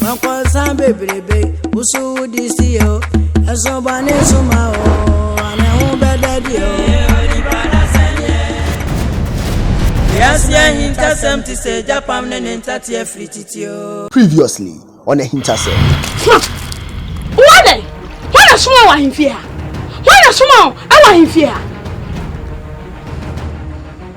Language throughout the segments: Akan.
Mankɔsa bebrebe, wo so wodi si o. Ɛso bɔne so ma o, ana ho bɛda di o. Wiase ahintasɛm te sɛ gyapam ne ne ntate afiri titi o. Previously on Ahintasɛm. Soma! Wowɔ dɛn? Hwan na soma wɔ ahemfie ha? Hwan na soma wɔ ahemfie ha?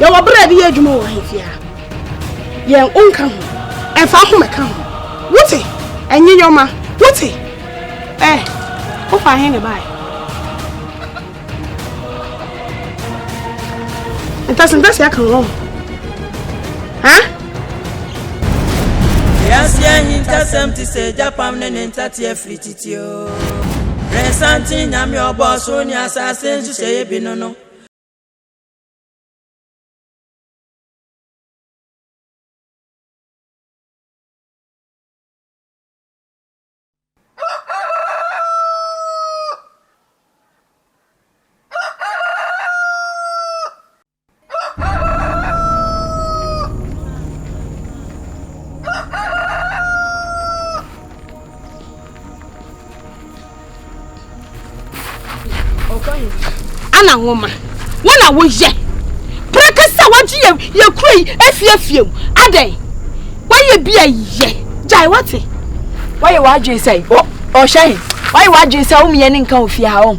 yɛwɔ berɛ de yɛ adwuma wɔ ahemfie a yɛn wo nka ho ɛmfa ho mɛka ho wote ɛnye yɔma wote ɛ wofa he ne bae ntasentase aka wɔ ho Resanti nyame ɔbɔ soro ne asase nhyehyɛeɛ bi no no ana nwoma wo na woyɛ prɛka sɛ wagye yɛ yɛ kuro yi afiafie mu adɛn wayɛ bi a yɛ gyae wate wayɛ w'adwene sɛ ɔhyɛ he wayɛ w'adwene sɛ womeɛ ne nka ofie ha ɔm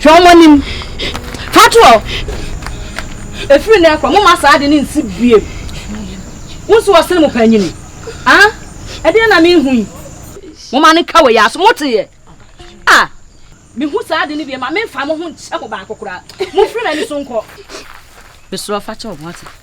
Hwɛ wɔn anim. Fa to hɔ. Ɛfiri nnɛ rekɔ, momma saa ade no nsi bio. Wonsi hɔ sene mo panyini. Ah, ɛdeɛn na mehu yi? Momma no nka wɔ yɛn aso. Moteeɛ? Ah, mehu saa ade no bi, ɛma memfa mo ho nkyɛ mo baako koraa. Momfiri m'ani so nkɔ. Mesrɛ wo, fa kyɛ wɔn, wate?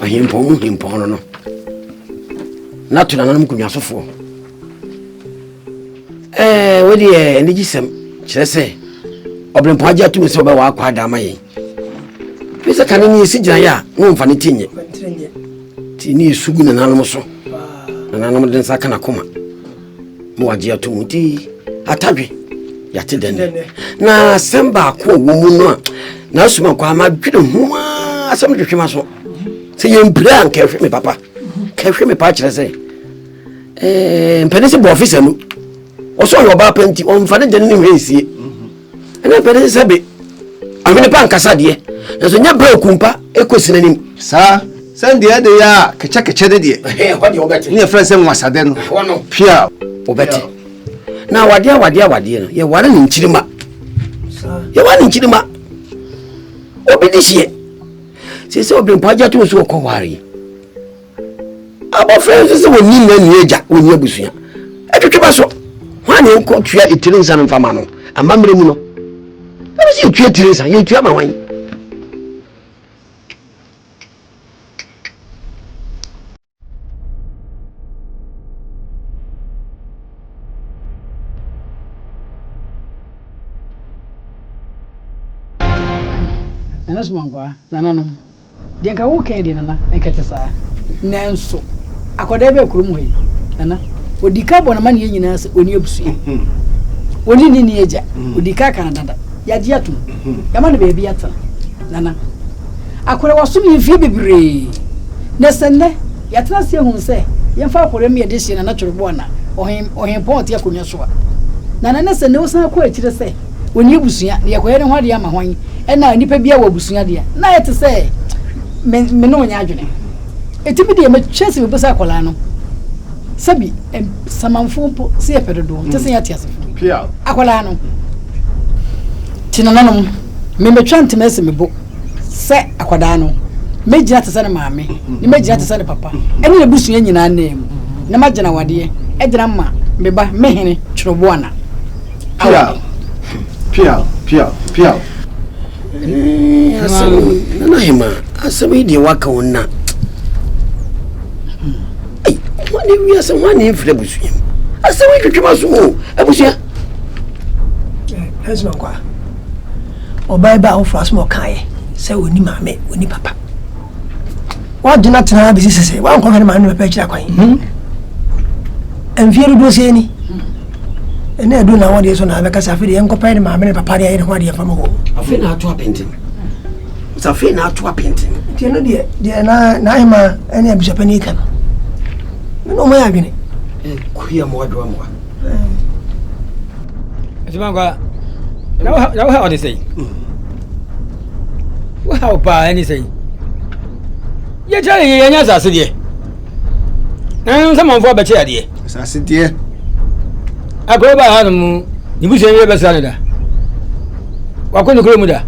Ɔhempɔn mu hempɔn no no na to nananom kunyasofoɔ ɛɛ eh, wode yɛ anigye sɛm kyerɛ sɛ ɔbrempɔn agye atum sɛ ɔbɛwɔ akɔ ada ama yɛn ne sɛ kane ne yɛsi gyinaeɛ a na ɔmfa ne ti nyɛ nti ne yɛsu gu nananom so nananom de nsa ka nakoma ma wagye ato mu ti atadwe yɛate dɛ nɛ na asɛm baako a wɔ mu no a na asoma kɔ ama dwene ho a asɛm twetwe ma so sɛ yɛmpire a nkɛhwe me papa kɛhwe me paa kyerɛ sɛ eh, mpɛne sɛ bɔɔfisa mu ɔsɛ ɔyɛ ɔbaa pa nti ɔmfa ne gyene ne hwɛ nsie ɛna mpɛ ne sɛ be ahwene pa nkasa deɛ nanso nyɛ berɛ okumpa ɛkɔ si n'anim saa sɛn deɛ ɛde yɛ a kɛkyɛkɛkyɛ de deɛ ne yɛfrɛ sɛ nwasadɛ no pwe a wobɛte na awadeɛ awadeɛ awadeɛ no yɛware ne nkyirima yɛware ne nkyirima obi de hyeɛ sɛ sɛ obirempa agya to nso ɔkɔ ware Abɔfra nso sɛ wɔnni nna nni agya wɔnni abusua ɛtwetwe ba so hwan ne wokɔ tua etiri nsa no mfa ma no amammerɛ mu no ɛmu sɛ yɛtua etiri nsa yɛtua ma hwan ɛno so mɔnkwa nananom Deɛ nka woka yi deɛ Nana nka ɛte saa nanso akwadaa bi a kurom hɔ yi Nana ɔdi ka bɔ n'amaneɛ nyinaa sɛ ɔni abusua ɔni ne ni agya ɔdi ka ka no dada yɛagye atom yɛama no baabi atena Nana akwadaa wasom yɛ mfie bebree na sɛ nnɛ yɛatena ase ahu sɛ yɛmfa akwadaa mu yɛde hyɛ Nana Twerɛboɔ na ɔhen ɔhen pɔn ɔte akonnwa so a Nana ne sɛ nnɛ wosan kɔ akyire sɛ ɔnni abusua na yɛkɔyɛ ne ho adeɛ ama hwan ɛna nipa bi a wɔ abusua deɛ na ayɛ te sɛ me me ne ɔnyɛ adwene ɛti bi deɛ mɛkyɛ sɛ mebisa akwadaa no sɛbi samanfoɔ mpo sɛ yɛpɛ dodoɔ nkyɛ sɛ yɛate asefoɔ akwadaa no te nananom memɛtwa ntoma asi me bo sɛ akwadaa no mɛgyina te sɛ ne maame ne mɛgyina te sɛ ne papa ɛne ne busua nyinaa nan mu na magyina wadeɛ ɛgyina ma meba mehene twerɛboana Pia. Pia. Pia. Pia. Eh, asɛm nana hema asɛm yi deɛ waka wo nna wane wiase wane mfiri abusua mu asɛm yi twetwe ma so mu abusua ɛsɛ nkwa ɔbaa ba awofoɔ asɛm ɔkaeɛ sɛ ɔni maame ɔni papa wadwene atena ha bɛsi sese wankɔhwɛ ne maame papa akyira kwan hmm. mfeɛ dodoɔ sɛ ni ɛna ɛdu na wɔdeɛ so na bɛka sɛ afei deɛ nkɔpɛ ne maame ne papa deɛ ayɛ ne ho adeɛ fama hɔ afei na ato apɛnten afei na ato apɛnten nti ɛno deɛ deɛ na na ahema ɛne abusapɛ ne ɛka no ne na ɔma yɛ adwene kuya mmoa doa mmoa ɛtuma nkwa na woha ɔde sɛi wohaw paa ɛne sɛn yɛkyerɛ yɛ yɛnyɛ asase deɛ ɛno sɛ manfoɔ abɛkyɛ adeɛ asase deɛ akɔrɔ baa ha no mu ne busua yɛ bɛsra no da wakɔ ne kuro mu da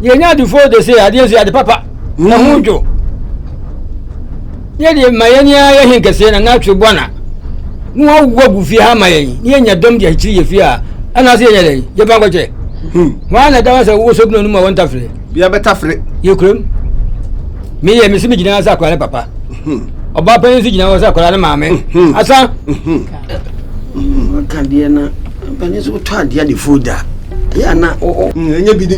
yɛnya adefoɔ de se adeɛ nso yɛ ade papa na ho dwo yɛ deɛ ma yɛn nyinaa yɛ he kɛseɛ na n'atwe bɔ na na wawu agu fie ha ma yɛn ne yɛnya dɔm de akyiri yɛ fie a ɛna sɛ yɛnyɛ dɛ yɛba nkɔkyɛ wɔn na ɛda sɛ wowɔ sɔbina no mu a wɔn tafere bia bɛtafere yɛ kurom meyɛ mesi me gyina sɛ akwadaa ne papa ɔbaa panyin nso gyina hɔ sɛ akwadaa ne maame asa waka deɛ na panyin nso wotɔ adeɛ adefoɔ da ɛyɛ ana ɛnyɛ bi ni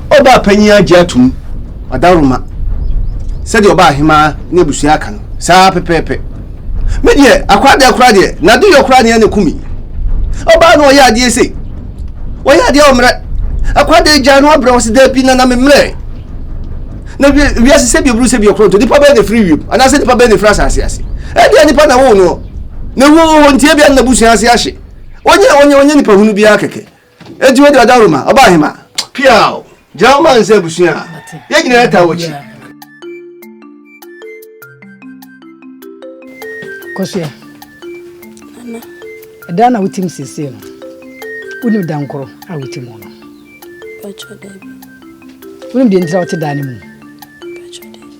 Ɔbaapanyin agye atom. Ɔdawuroma, sɛdeɛ ɔbaahemaa ne abusua aka no, saa ara pɛpɛɛpɛ. Me deɛ, akwaa deɛ koraa deɛ, n'adeyɔ koraa nea na ɛku me. Ɔbaa no ɔyɛ adeɛ sei, ɔyɛ adeɛ a ɔmmrɛ. Akwaa deɛ gyaa no abrɛ, ɔse daabi, nana memmrɛ. Na wie, wiase sɛ bi oburu sɛ bi ɔkoronto, nipa bɛyɛ na ɛfiri wiem, anaasɛ nipa bɛyɛ na ɛfiri asase ase. Ɛdeɛ nipa na woo noɔ, na ɛwuo wɔ hɔ nti ebia na n'abusua ase ahye. Ɔnyɛ, ɔnyɛ, ɔnyɛ nipa hunu biara kɛkɛ. Enti wode ɔda Roma, ɔba ahema. Piaw, gyina wo man sɛ abusua a. Yɛn nyinaa yɛtaa w'akyi. Kosua, ɛda na wotim seesei no, wonim da nkoro a wote mu no? Patro, dabi. Wonim deɛ ntira wote daa no mu? Patro, dabi.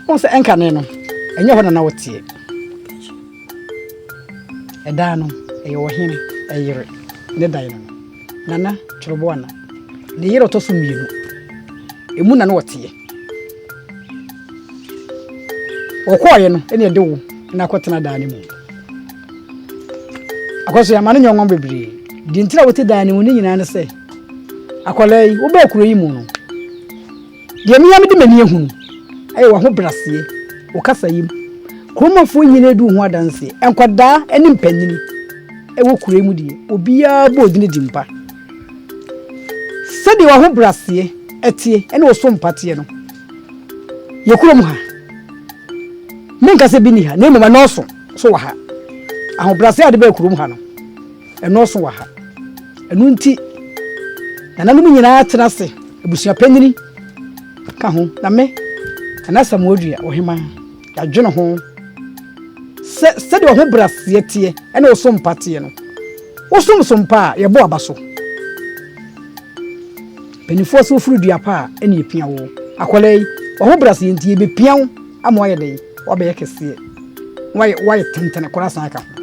Wɔn sɛ ɛnkane no, ɛnyɛ hɔ na na woteɛ. Ɛdaa no, ɛyɛ ɔhene yere ne dae no, Nana Kyoroboana, ne yere a ɔtɔ so mmienu. Emu na na ɔteɛ. Ɔkɔɔeɛ no, ɛne ɛde wo na akɔtena daa no mu. Akɔso yɛama no nyɔnwɔn bebree. Deɛ nti a wote daa no mu no nyinaa ne sɛ, akwadaa yi, wobaa kuro yi mu no, Deɛ me ara mede m'ani ahu no yɛ w'ahobraseɛ, wo kasayam, kuromafoɔ nyinaa di wo ho adanseɛ, nkwadaa ne mpanyini wɔ kuro yi mu deɛ, obiara bɔ wo din di mpa. Sɛdeɛ w'ahobraseɛ teɛ ne wo so mpa teɛ no, yɛn kurom ha, menka sɛ bi nni ha, na mmom ɛnɔɔso nso wɔ ha. Ahobraseɛ a wode baa kurom ha no, Ɛnnɔɔso wɔ ha. Ɛno nti, nananom nyinaa tena ase, abusua panyin ka ho, na me, Nana Asamoah Odua, Ɔhema, yɛadwene ho sɛ sɛdeɛ ɔhobrɛaseɛ teɛ ɛna ɔsompa teɛ no, wosom so mpa a, yɛbɔ aba so. Mpanimfoɔ sɛ wofiri dua pa a, ɛna yɛpia wo. Akwadaa yi, w'ahobrɛaseɛ nti, yɛbɛpia wo ama woayɛ dɛn? Woabɛyɛ kɛseɛ. Woayɛ, woayɛ tentene koraa san ka ho.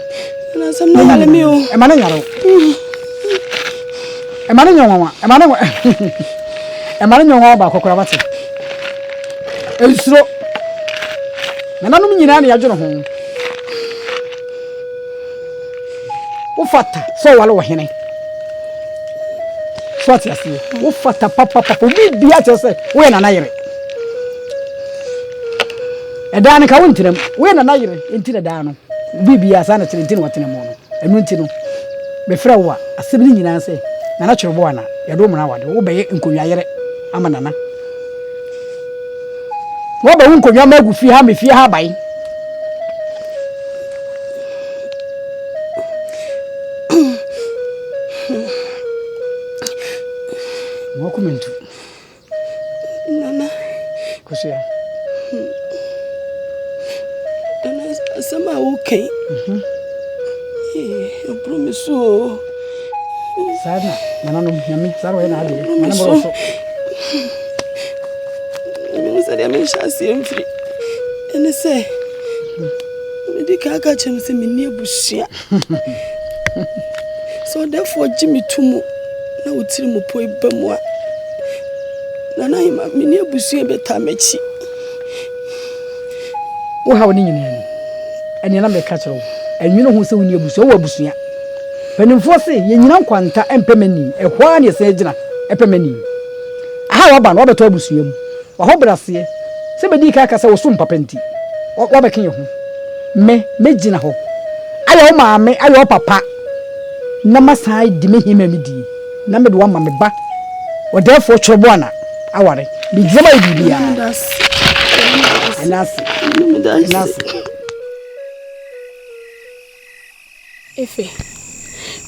Ɛna asɛm no yare me o. Ɛma no nyare o. Ɛma no nyɛ nwanwa. Ɛma no ɛma no nyɛ nwanwa baako koraa wate. Nsuro. Nananom nyinaa na yɛadwene ho. Wofata sɛ ɔwale wɔ hene. So ate aseɛ. Wofata papapapa. Obi bia kyerɛ sɛ woyɛ nana yere. Ɛdaa no ka wo ntenam. Woyɛ nana yere nti na ɛdaa no biri biara saa na kyerɛ nti na watena mu no. Ɛno nti no me frɛ wo a asɛm no nyinaa sɛ nana kyere bo ana yɛde wo mmara awade wo bɛyɛ nkonwa yere ama nana. Waba wo nkonwa ma agu fie ha me fie ha aban. Wɔkɔ mentu. Nana. Kosua. Hmm. Nana asɛm a woka yi. Mhm. Ɛboro me so o. Saa na nananom nyame saa na ɔyɛ n'adeɛ. Ɛboro me so. Mehu sɛ deɛ menhyɛ aseɛ mfiri ɛne sɛ mede ka aka kyerɛ m sɛ menni abusua. Sɛ ɔdɛfoɔ gye me to mu na wotiri mu poe ba mu a, Nana Hema, me ne abusua bɛtaa m'akyi. Wo haw ne nyinaa ni. Ɛnea na meka kyerɛ wo. Ɛnwene ho sɛ wo ni abusua, wɔ abusua. Mpanimfoɔ se, yɛnyina nkwanta mpɛ mani, ɛhɔ ara na yɛsan agyina ɛpɛ mani. Aha a waba no, wabɛtɔ abusua mu. W'ahobraseɛ, sɛ bɛdii kan aka sɛ wo som papa nti, wabɛke yɛn ho. Me, mɛgyina hɔ ayɛ wo maame, ayɛ wo papa, na masan adi me hemma mu die, na mede wo ama me ba ɔdɛɛfoɔ Kyerɛboana aware. Megyina mu ayɛ biribiara. Ɛnna ase. Ɛnna ase. Efe,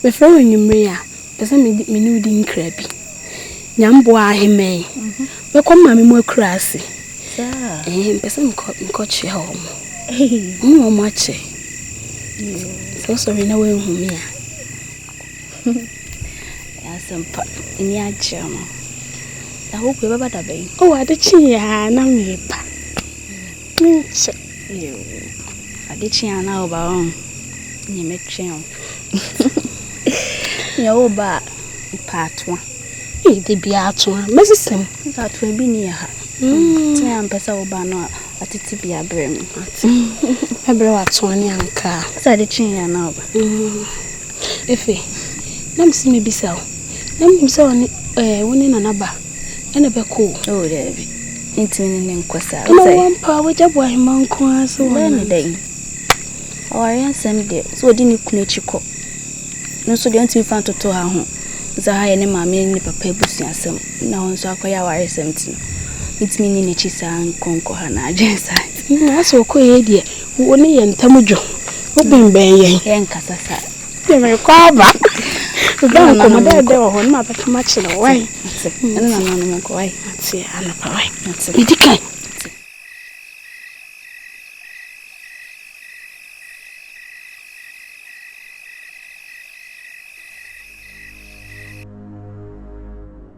Mefrɛ wo anwummere yi a, mepɛ sɛ me ne wo di nkra bi. Nyamboa Ahemman, Mɛkɔ me maame mu akura ase. Ɛɛ, mepɛ sɛ mekɔkyea wɔn. Wo ne wɔn akyɛ. Sɛ wosɔre na woanhu me a. Asɛmpa, ani agye no. Na wokɔ, ɛbɛba da bɛn? O, ade kyeeɛ a na meba. Menkyɛ oo Ade kye a na woba oo Nea mɛtwɛn oo Nea woba a mepɛ atoa Ei da biara atoa Mɛsesa mu Sɛ atoa bi nni yɛ ha Sɛ ampɛ sɛ woba no a Atete bi abrɛ me Mate Mɛbrɛ wo atoa ne ankaa Sɛ ade kye a na woba Efe Na mese mɛbisa wo Na menim sɛ wo ne eh wo ne Nana ba ɛna ɛbɛkɔ o. Oh daabi, mentumi ne no nkɔ saa. Ɛna wɔ mpa a wagya bɔ ahema nko ara sɛ wɔn. Bɛyɛ ne dɛ yi. Awareɛ nsɛm deɛ sɛ ɔdi ne kunu akyi kɔ. No nso deɛ ɔntumi fa ntoto ha ho. Sɛ ha yɛ ne maame ne ne papa abusuasɛm na hɔ nso akɔyɛ awareɛ sɛm ti no. Mentumi ne n'akyi saa nkɔnkɔ ha na adwene saa. Asɛ ɔkɔ yɛ deɛ wɔne yɛ ntam dwo. Wobɛnbɛn yɛn. Yɛnkasa saa. Sɛ merekɔ aba wobɛ nkɔmmɔ dɛɛdɛ wɔ hɔ na mabɛka makyerɛ wo wae ɛne nananom nkɔ wae ate anapa wae medi kan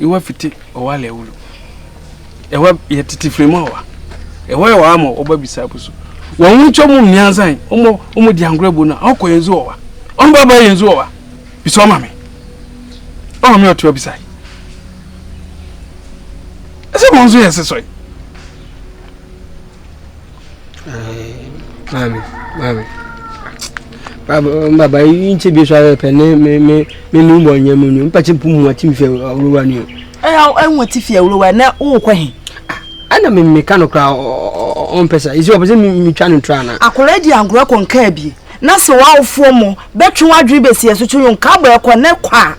Ewa fiti ɔwa lɛ wulu. Ewa yɛ titi firi mu ɔwa. Ewa yɛ ɔwa ma ɔba bisa abu so. Wɔn ho nkyɛn mu mmiɛnsa yi, wɔn wɔn di angorɔ bu na ɔkɔ yɛn zu ɔwa. Wɔn ba ba yɛn zu ɔwa. Bisa ɔma mi. Ɔma mi ɔtua bisa yi. Ɛsɛ wɔn nso yɛ sisɔ yi. Maame, maame, maame, baba yi nkyɛ bi so ayɛ pɛ ne me me me nu bɔ nyɛ mu nu mpɛkyɛ mpu mu ati mfɛ awurowa ni o. Ɛyɛ ɛnwa ti fi awurowa na wokɔ he. Ɛna me me ka no kora ɔmpɛ sa esi ɔpɛ sɛ me me twa no tra na. Akora di ankora kɔ nkaa bi na sɛ wawofoɔ mo bɛtwe wadwene bɛsi ɛso to yon ka bɔ ɛkɔ ne kɔ a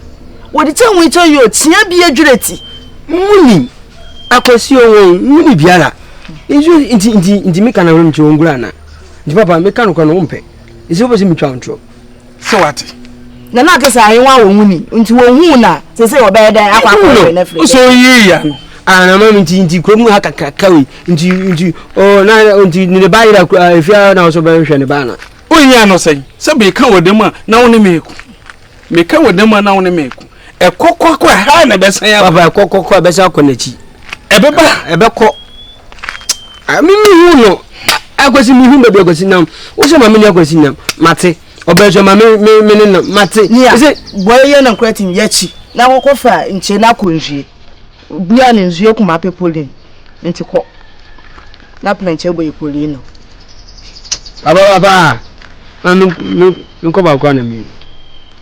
wɔde kyɛ ho kyɛ yi o tia bi adwira ti. Muni akwasi o wɔn muni biara. Nso nti nti nti meka na hwem kyerɛ ongura na. Nti papa meka no kwa no wompɛ. Nsi wopɛ sɛ metwa ntro. Sɛ wate. Na na ate sɛ ayewa wɔ ho ni. Nti wɔhuu na sesei wɔbɛyɛ dɛn akɔ akɔhwɛ no afiri dɛn. Nso yii ya no. Ah na mami nti nti kuro mu ha kakraka wei. Nti nti oh na nti ne ne ba yera kura efia na wɔsɔ bɛhwɛ ne ba na. Wohia no sɛn? Sɛ meka wɔ dɛm a na wo ne me ko. Meka wɔ dam a na wo ne me ko. Ɛkɔ kɔ akɔ ɛha na ɛbɛsan aba. Papa ɛkɔ kɔ kɔ ɛbɛsan akɔ n'akyi. Ɛbɛba. Ɛbɛkɔ. Me me hu no. Akwasi me hu baabi akwasi nam. Wosɛ ma me ne akwasi nam. Mate. Ɔbɛn so ma me me me ne nam. Mate. Nia. Ɛsɛ. Bɔyɛ yɛ na nkura tim yɛ akyi. Na akɔkɔ fa nkyɛn na akɔ nhwie. Bia ne nsu yɛ kuma pe polin nti kɔ na plenkyɛ bɔ yɛ polin no. Papa papa na me me me kɔ baako na me.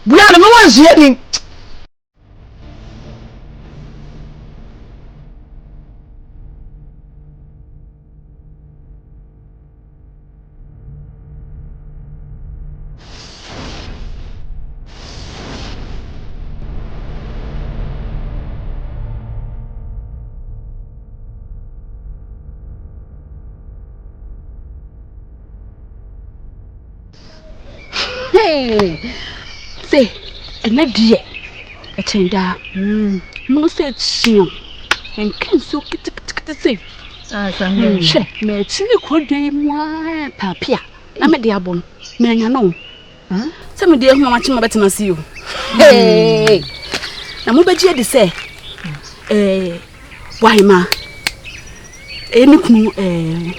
Bia ne me wɔ nsu yɛ ni. sɛ ɛnɛ deɛ ɛkyɛn daa mono sɛ ɛkyeɛ nka nsuo ketekete sɛ Hwɛ, matumi kɔ dwa yi mu ara paapi a na mede abɔ no manya no sɛ mede ahu a makye mabɛtena ase yi o hmm. na mobɛgye adi sɛ boahema ɛyɛ me kunu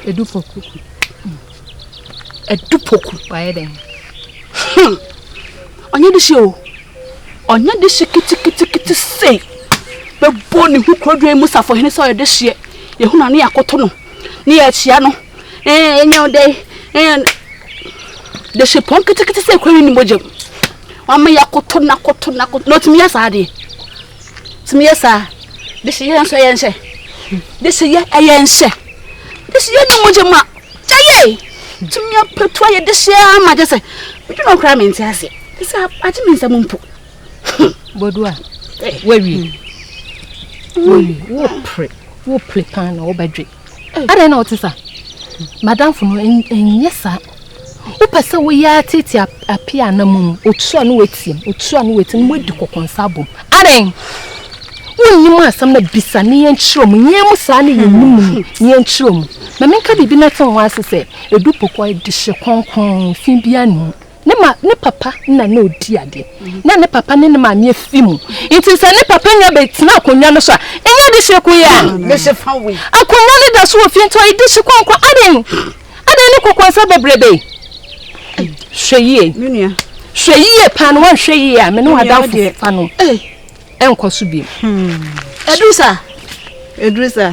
ɛdufo Adupoku. Wayɛ dɛn? Hmm. Ɔnyɛ de hyɛ o. Ɔnyɛ de hyɛ kitikitikiti sei. Bɛbɔ ne ho kurodwan mu safohene sɛ ɔyɛ de hyeɛ. Yɛhu na ne yɛakoto no. Ne yɛakyia no. Ɛɛ ɛnyɛ o dɛn. Ɛɛ de hyɛ pɔn kitikiti sɛ kura ne ne mogyam. Wama yɛakoto no akoto no akoto. Na ɔtumi yɛ saa adeɛ. sɛ meyɛ saa de sɛ yɛn nso ɛyɛ nhyɛ de sɛ yɛ ɛyɛ nhyɛ de sɛ yɛ ne mogya mu a gya yɛ tumi apatu ayɛ de hyɛ ama gye sɛ medwe no koraa mente aseɛ de sɛ agye me nsɛm mpo bodu a wawie wawie wopere wopere paa na wobɛdwe adɛn na ɔte sa madamfo no ɛnyɛ saa wopɛ sɛ woyɛ atete ape a na mom ɔtu a na watiam ɔtu a na watiam na wadi kɔkɔnsa abom adɛn wonnim asɛm na bisa ne yɛnkyerɛ mu yɛn mu saa ne yɛnni mu no ne yɛnkyerɛ mu ma menka biribi na te ho ase sɛ ɛdu pokɔ de hye kronkron fi bia ne mu Ne ma ne papa na na odi ade. Na ne papa ne ne maame afi mu. Nti sɛ ne papa nya bɛtena akonnwa no so a, ɛnyɛ de hyɛ ko yɛ. Akonnwa no da so wɔ fie nti ɔyɛ de hyɛ kɔnkɔ. Aden aden ne kɔkɔ nsa bebrebe. Hwɛ yie. Hwɛ yie paa na wanhwɛ yie a me ne wadamfo fa no. Ɛnkɔ so bi. Ɛduru saa. Ɛduru saa.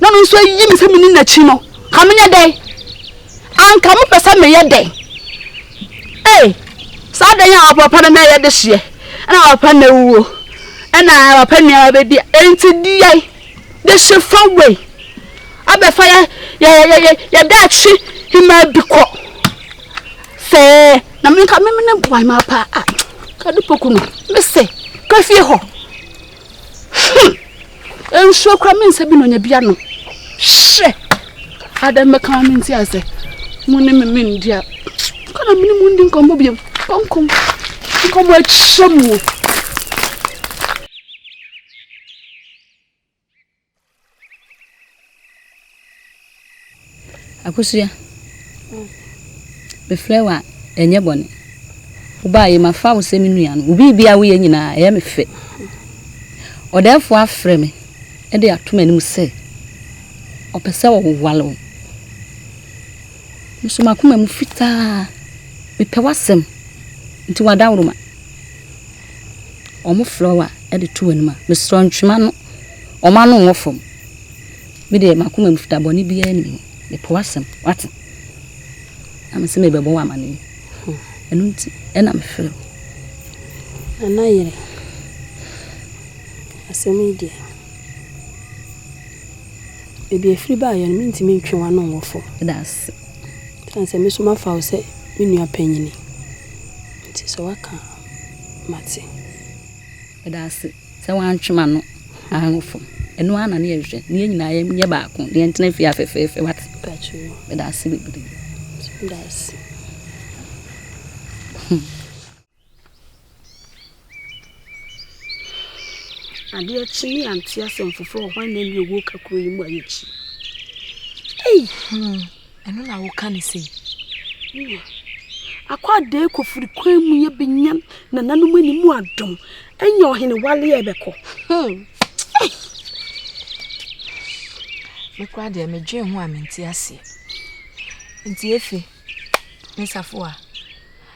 na ɔno nso ayi me sɛ menni n'akyi no, ka menyɛ dɛn? Anka mopɛ sɛ meyɛ dɛn? Ee, saa dɛn a ɔpɛ papa no na ɛyɛ dehyeɛ, ɛna papa na awuo, ɛna papa nneɛma bɛdi, enti deɛ dehye fa wei abɛfa yɛ yɛ yɛ yɛ yɛ daakye hemaa bi kɔ sɛɛ na menka memene boa hemaa paa a kade poku no mese ka fie hɔ Hmm! Nsuo kora me nsa bi na ɔnya bi ano. Hyɛ! Ada mmɛka ma me nti asɛ. Mo ne me me ndi a. Kɔ na me ne mo ndi nkɔmmɔ biam. Kɔnkɔm. Nkɔmmɔ akyɛ mu. Akosua, mefrɛ wo a, ɛnyɛ bɔne. Wobaeɛ mafa wo sɛ me nua no. Wo biribi a woyɛ nyinaa, ɛyɛ me fɛ. Ɔdɛɛfoɔ afrɛ me de ato m'anim sɛ ɔpɛ sɛ ɔware wo. Nso m'akoma mu fitaa, mepɛ w'asɛm, nti w'adaworoma. Wɔn flower de to w'anim a, mesrɛ ntwema no, wɔn ano nwɔ fam. Me deɛ m'akoma mu fita bɔne biara nni mu. Mepo w'asɛm, wate? Na mese mebɛbɔ wo amanneɛ. Ɛno nti na mefrɛ wo. Nana yere, asɛm yi deɛ, baabi afiri baayɛ no, mentumi ntwe w'ano nwɔ fam. Meda ase. Ɛsiane sɛ me nso mafa wo sɛ me nua panyini nti, sɛ woaka a. mate. Meda ase sɛ woantwe m'ano angu fam. Ɛno ara na ne yɛhwehwɛ, na yɛn nyinaa yɛnyɛ baako, na yɛntena fie ha fɛfɛɛfɛ, woate. Pakyɛw. Meda ase bebree. Meda ase. Hmm. Adeɛ kye ne yɛante asɛm foforɔ wɔ hɔ a na ɛne owuo ka kuro yi mu ayɛ kyi. Ei! Hmm. Ɛno na woka ne sei. Nea akɔ adɛɛ kɔfiri kwan mu yɛ bɛnya nananom ani mu adom anya ɔhene waleɛ bɛkɔ. Hmm. Me kora deɛ medwen ho a mente aseɛ. Nti efe, me safo a.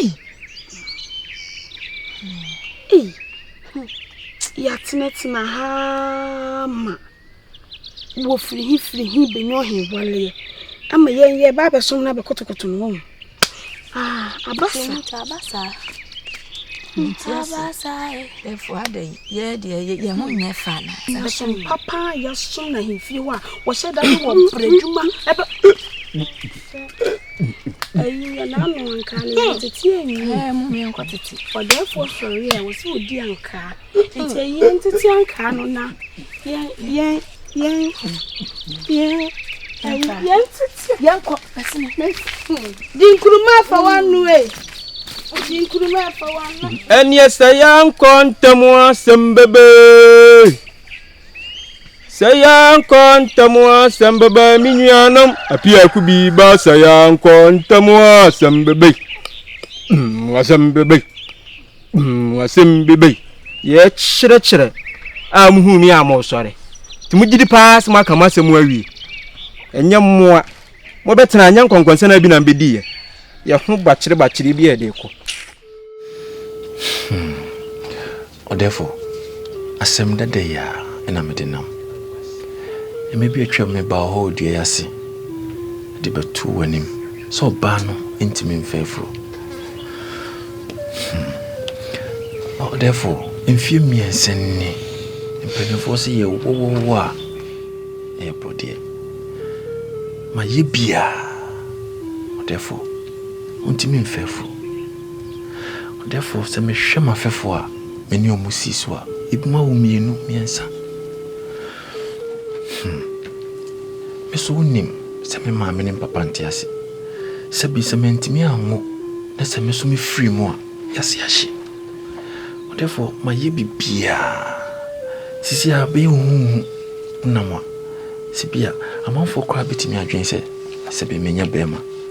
Ei! Ei! Yɛatenatena ha ma wɔfiri he firi he bɛnyɔ he waleɛ ama yɛn yɛba abɛsom no abɛkotokoto no wɔn. Ah, abasa. Abasa. Abasa. Ɛfo ada yi, yɛ deɛ yɛ ho nyɛ fa na. Yɛsom papa, yɛsom na he fie hɔ a, wɔhyɛ da ne wɔ brɛ adwuma ɛbɛ. Ɛneɛ sɛ yɛankɔ ntam asɛm bɛbɛɛ Sɛ yɛankɔ ntɛm a asɛm bɛba me nuanom. Apiako bi ba sɛ yɛankɔ ntɛm a asɛm bɛba yi. Mm, asɛm bɛba yi. Mm, asɛm bɛba yi. Yɛkyerɛkyerɛ a muhu me a moresɔre. Nti mogye di paa sɛ moaka m'asɛm awie. Ɛnyɛ mmoa. Mobɛtena nyɛ nkɔnkɔnsɛn a bi na mbɛdiiɛ. Yɛ ho bakyerebakyere bi a ɛde kɔ. Hmm. Ɔdɛfo, asɛm dada yi ara na mede nam mmɛ bi a atwam no baa hɔ wɔ dua yi ase de bɛtoo w'anim sɛ ɔbaa no ntumi mfa afuro. Hmm. Ɔdɛfo, mfie mmiɛnsa ni mpanimfoɔ sɛ yɛ wɔwɔwɔ a ɛyɛ bɔdeɛ. Ma yɛ biara, ɔdɛfo, wontumi mfa afuro. Therefore, sɛ mehwɛ m'afɛfoɔ a me ne wɔn si so a, ebinom awo mmienu, mmiɛnsa. Hmm. Me nso wonim sɛ me maame ne me papa nte ase. Sɛ bi sɛ mantumi anwo na sɛ me nso mefiri mu a, yɛase ahye. Therefore, mayɛ biribiara. Sisi a bɛyɛ huhuhu nam a, sɛ bi a amanfoɔ koraa bɛtumi adwene sɛ sɛ bi menya bɛrima.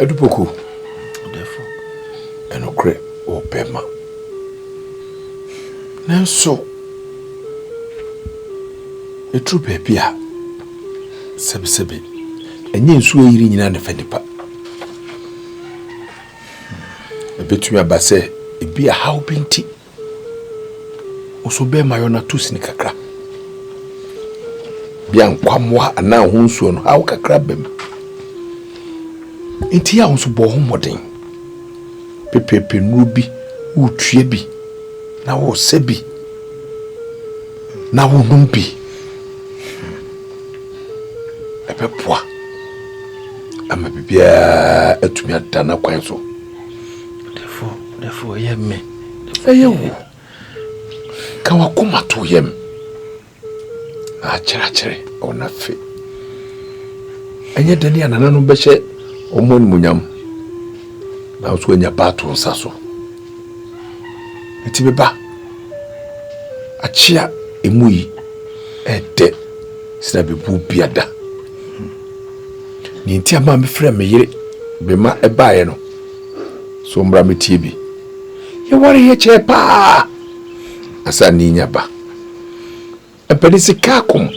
Adu Poku, ɔdɛɛfo, ɛnokorɛ wɔ bɛma. Nanso, ɛduru baabi a, sɛbesɛbe, ɛnyɛ nsuo ayiri nyinaa na ɛfɛ nipa. Ɛbɛtumi aba sɛ, ebi a haw bi nti. Nso bɛrima yɔ na to sini kakra. Bia nkwammoa anaa ho nsuo no haw kakra bɛm. Nti a nso bɔ ho mmɔden. Pepepe nnuro bi, wotue bi, na wɔsɛ bi, na wonom bi. ɛbɛboa ama biribiara atumi ada no kwan so Dɛfo, dɛfo yɛ me. Ɛyɛ wo. Ka w'akoma to yam. Na akyerɛkyerɛ wɔ n'afe. Ɛnyɛ dɛn a nananom bɛhyɛ wɔn animuonyam. Na nso anya ba ato nsa so. Nti beba. Akyea emu yi ɛdɛ sina bebu biada. Nea nti ama mefrɛ me yere bema ɛbaeɛ no, so mmra metie bi. Yɛware yɛ kyɛɛ paa asa ne nya ba. Ɛpɛde sika akom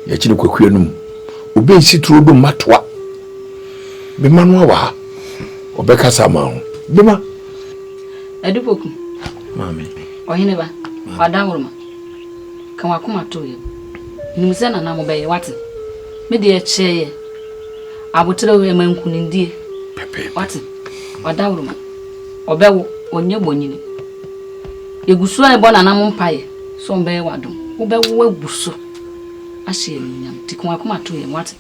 yɛkyi no kwakuya no mu. Obi nsi turo do mmatoa. Bema no awa ha. Ɔbɛkasa ama ho. Bema. Adupoku. Maame. Ɔhene ba. Wada woroma. Ka w'akoma to yam. Nim sɛ nana mobɛyɛ, w'ate? Me deɛ kyɛɛ yɛ. Aboterɛ o, ɛma nkunimdie, w'ate? Ɔdawuruma, ɔbɛwo, ɔnyɛ bonyini. Yɛgu so rebɔ nananom mpaeɛ sɛ ɔbɛyɛ w'adom. Wobɛwo agu so ahyɛ yɛn animuonyam. Nti ka w'akoma to yam, w'ate?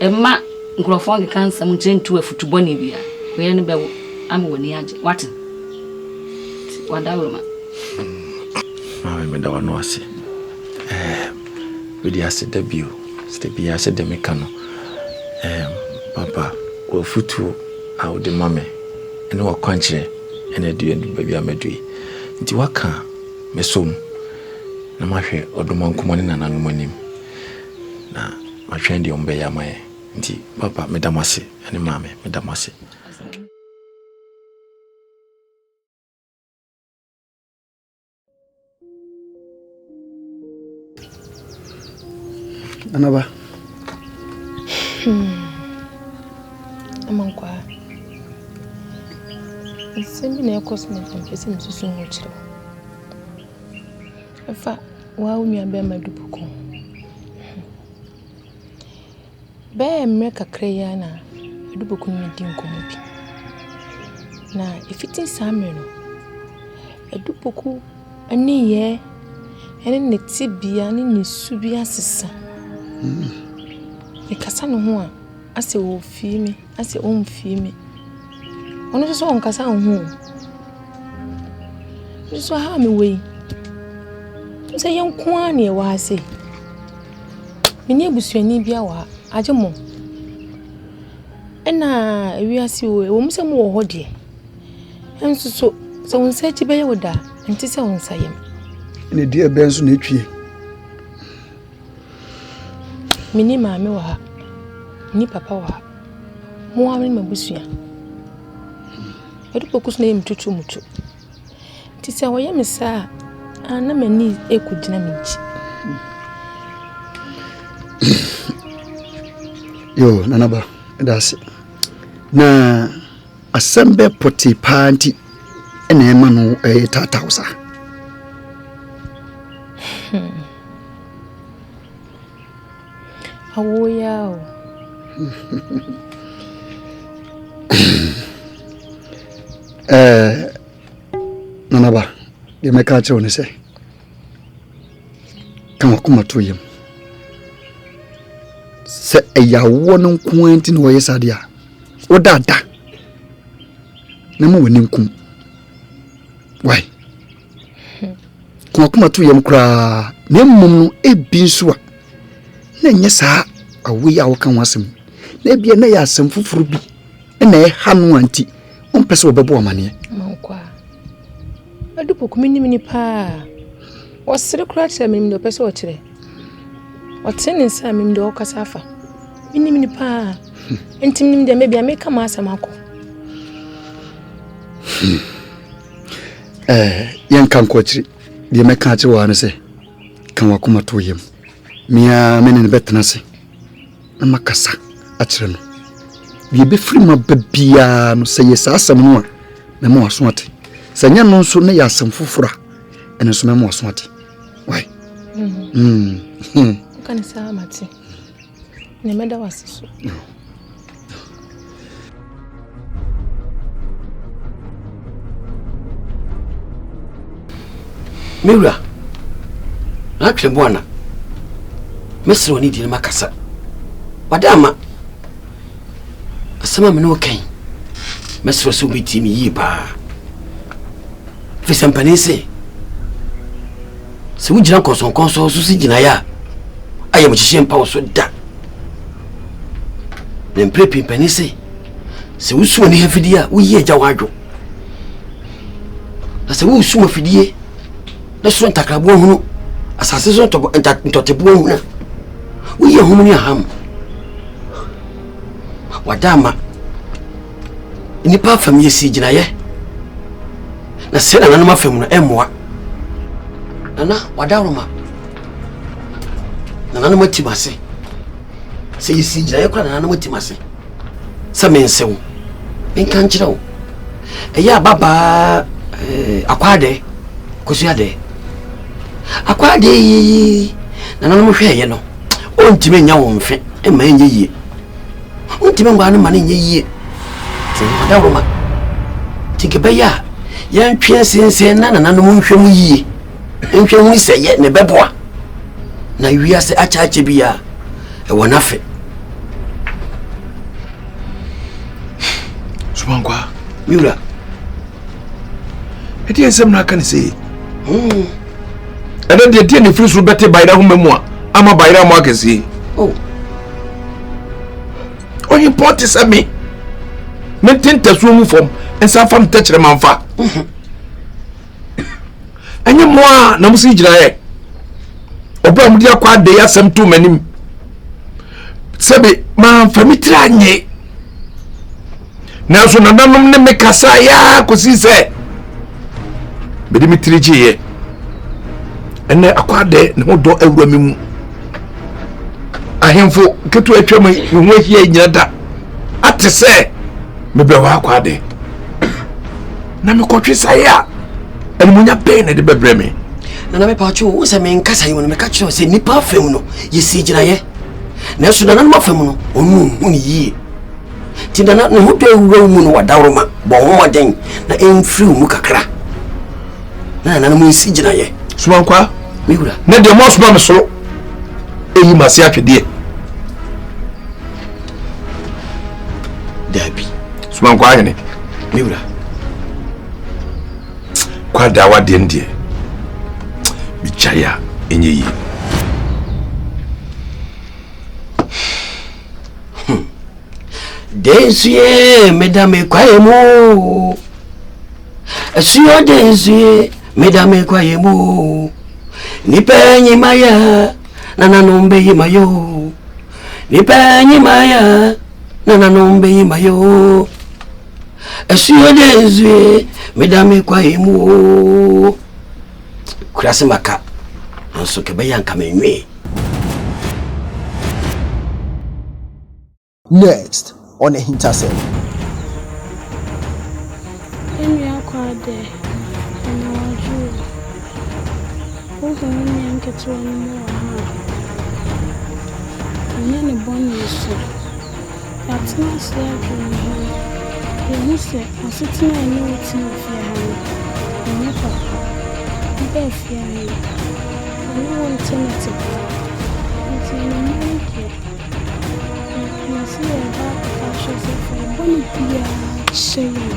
Mma nkurɔfoɔ nkeka nsɛm nkyerɛ ntu afutu bɔne biara. Wei ne bɛwo ama w'ani agye. Wate? Nti wadawuruma. Maame meda w'ano ase. Mede ase da bio sɛ biara sɛ deɛ meka no. Papa, w'afutuo a wode ma me ne w'akwankyerɛ ɛna adua ndu baabi a madu yi. Nti waka a, mɛsɔ mu na mahwɛ ɔdomankoma ne nananom anim. na matwɛn deɛ wɔbɛyɛ ama yɛn nti papa meda mo ase ɛne maame meda mo ase. Anaba. Hmm. Amankwa. Nsɛm bi na ɛkɔ so na ɛmpɛ sɛ mesusu ho kyerɛ Fa woa wo nua bɛɛma dupu ko ho. Bɛɛ mmerɛ kakra yi ara na dupu ko ne di nkɔmɔ bi. Na ɛfiti saa mmerɛ no, dupu ko ne yɛɛ ɛne ne te bia ne ne su bi asesa. Mekasa ne ho a, asɛ ɔfii me. na sɛ ɔmfie me ɔno nso sɛ ɔnkasa nho o nso so ha a mewɔ yi m sɛ yɛnko ara ne ɛwɔ ha sei mene abusuani bi awɔ ha agye mo ɛna ewiase o ɛwɔ mu sɛ mowɔ hɔ deɛ nso so sɛ wo nsa akyi bɛyɛ wo daa nte sɛ wo nsa yam na ɛdeɛ bɛn so na ɛtwie Menni maame wɔ ha, menni papa wɔ ha, mo ara ne m'abusua. Adupokuo nso na ɛyɛ me tutuumutu. Nti sɛ wɔyɛ me saa a, na m'ani rekɔgyina me nti. Yoo, Nana Ba, meda ase. Na Asɛm bɛ pɔtee paa nti na ɛma no ɛyɛ taataw sa. Hmm. Awo ya o. Eh, nanaba, deɛ mɛka akyerɛ wo ne sɛ, ka wakoma to yam. Sɛ ɛyɛ awoɔ no nko ara nti na wɔyɛ saa deɛ a, woda da na ma w'ani nkum wai komakoma to yam koraa na mmom no ebi nso a na ɛnyɛ saa awo yi a wɔka ho asɛm na ebi na yɛ asɛm foforɔ bi na ɛha no a nti ɔmpɛ sɛ wɔbɛbɔ amaneɛ adu poku menim ni paa ɔsere koraa kyerɛ menim deɛ ɔpɛ sɛ ɔkyerɛ ɔtene ne nsa a menim deɛ ɔkasa afa menim ni paa Nti menim deɛ mebia meka m'asɛm akɔ. Hmm. Eh, yɛnka nkɔ akyiri. Deɛ mɛka akyerɛ wɔ ha no sɛ, ka wakoma to yam. Mea me ne no bɛtena ase na makasa akyerɛ no. Deɛ ɛbɛfiri mu aba biara no, sɛ yɛ saa asɛm no a, mɛma waso ate. Sɛ nyɛ no nso na yɛ asɛm foforɔ a, ɛno nso mɛma waso ate. Wai? Mm-hmm. Hmm. Hmm. Woka ne saa mate. Ne mɛda wase so. Me wura, atwe bo ana. Mesrɛ ne dini makasa. Wada ama. Asɛm a me ne wo kan. Mesrɛ sɛ wobɛtie me yie paa. Firi sɛ mpanin se Sɛ wogyina nkɔnsɔnkɔnsɔn so si gyinaeɛ a, ayamhyehyeɛ mpa wo so da. Na mprɛ pii mpanin se, sɛ wosu ani afidie a, woyi agya wo adwo. Na sɛ wosu afidie na soro ntakraboa hunu, asase so ntɔteboa hunu a, woyi ahum ne aham. Wada ama nnipa afam yɛsii gyinaeɛ na sɛ nananom afam no ɛmmoa nana wadaworoma nananom atim ase sɛ yɛsii gyinaeɛ kora nananom atim ase sɛ mense wo menka nkyerɛ wo ɛyɛ ababaa eh, akwaadɛ kosuadɛ akwaadɛ yi nananom hwɛɛyɛ no ɔntumi nya wo mfe ɛma ɛnyɛ yie Wontumi nwaa no mma no nyɛ yie. Adaworoma. Nti nka ɛbɛyɛ a yɛntwe nsensen na nananom nhwɛ mu yie nhwɛ hu sɛ yɛ na ɛbɛboa na wiase akyɛakyɛ bi a ɛwɔ n'afe sumankwa miwura ɛdeɛ nsɛm na aka ne sei hmm. ɛnɛ deɛ deɛ ne firi soro bɛte bayerɛ ho mamu a ama bayerɛ mo akɛseɛ oh. ɔhempɔn te sɛ me mente ntasuo mu fam nsa fam tɛkyerɛ mamfa ɛnyɛ mmoa a na mo si gyinaeɛ ɔbɛ a mode akɔ adɛ yɛ asɛm to m'anim sɛbe mamfa me tiri anyee nanso nananom ne me kasaeɛ ara kɔsii sɛ mede me tiri gyeeɛ ɛnɛ akwaadɛ ne ho dɔ awura me mu ahemfo ketewa atwa me me ho ahyia nyina da ate sɛ mebɛwɔ akwaadɛ na mekɔtwe saeɛ a animunya bɛn na ɛde bɛbrɛ me nana mepatwo wo sɛ menkasa yi mu no meka kyerɛ sɛ nnipa afam no yɛsii gyinaeɛ nanso nananom afam no ɔno ɔhu ne yie Nti na na ne ho dɔ awura wo mu no wadawroma, bɔ ho mmɔden na ɛmfiri wo mu kakra. Na nananom nsi gyinaeɛ. Somankwa, me wura. Na deɛ moasoma me so ɛyi ma se atwedeɛ. Daabi. Somankwa ahene. Me wura. Kwadaa wadeɛ no deɛ, megyae a ɛnyɛ yie. Hmm. Densuye meda me kwaeɛ mu Asuo densuye meda me kwaeɛ mu Nipa nyima yɛ na nanom bɛyi ma yɛ o Nipa nyima yɛ na nanom bɛyi ma yɛ o Asuo densuye meda me kwaeɛ mu o Kurase maka nanso ka ɛbɛyɛ a nka menwee. Next on Ahintasɛm. Yɛn nua kwaa dɛ, anyawadwo o. Wohu wo nua nketewa no mu wɔ ha a, ɔnyɛ ne bɔne so. Yɛatena ase adwene yɛn ho no, yehu sɛ asetena a ɛne wo te wɔ fie ha no, ɛnyɛ papa. Wo baafia no, ɔne wo nte no te paa. Enti anwummere yi deɛ, yɛasi yɛn bo akɔfa ahyɛ sɛ fa wo bɔne biara kyɛ yɛn.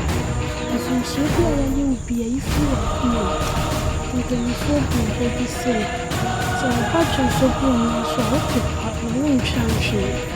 Mfomsoɔ bi a yɛayɛ wo biara, yi firi w'akoma mu. Mpanimfoɔ buu bɛ bi sɛ, Sɛ wo ba dwo nso gu wo nan so a, wope pa na wontwa nhwene.